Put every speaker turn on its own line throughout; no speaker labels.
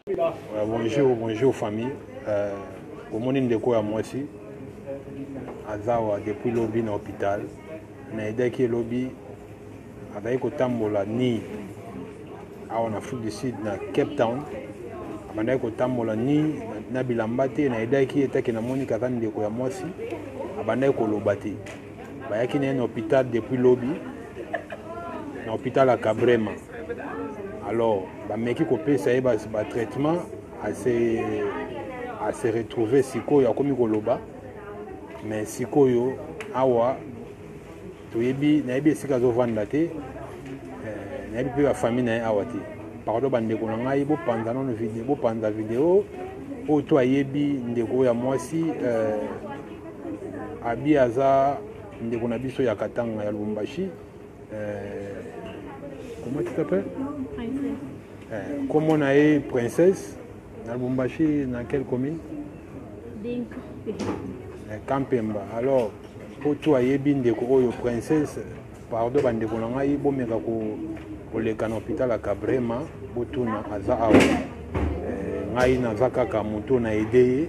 Euh, bonjour bonjour famille euh, omoni ndeko ya mwasi aza awa depuis lobi na hôpital nayedaki ye lobi azalaki kotambola ni awa na afrique du sud na cape town abandaki kotambola ni na bilamba te nayedaki ye etaki namoni kaza ndeko ya mwasi abandaki koloba te Bayaki na ye na hopital depuis lobi na hopital ya Kabrema. Alors bameki kopesa ye ba traitement ase ase retrouver sikoyo akomi koloba mais sikoyo awa toyebi nayebi esika azovanda te eh, nayebi mpe bafamille na ye awa te pardon bandeko na ngai bopanza nano bopanza video oyo to ayebi ndeko ya mwasi eh, Abi aza ndeko na biso ya Katanga ya Lubumbashi. Euh, comment tu t'appelles euh, Comme on a eu princesse na Lubumbashi, dans quelle commune Dinka. Euh, Kampemba. Alors, mpo tu ayebi ndeko oyo princesse pardon bandeko na ngai bomeka koleka na hôpital ya Kabrema botuna aza awa euh, ngai naza kaka moto na aide ye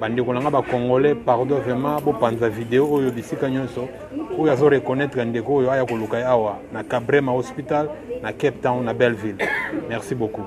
bandeko na nga bacongolais pardon vraiment bopanza video oyo bisika nyonso oyo azo reconnaître ndeko oyo aya koluka ye awa na cabrema hospital na cape town na belleville merci beaucoup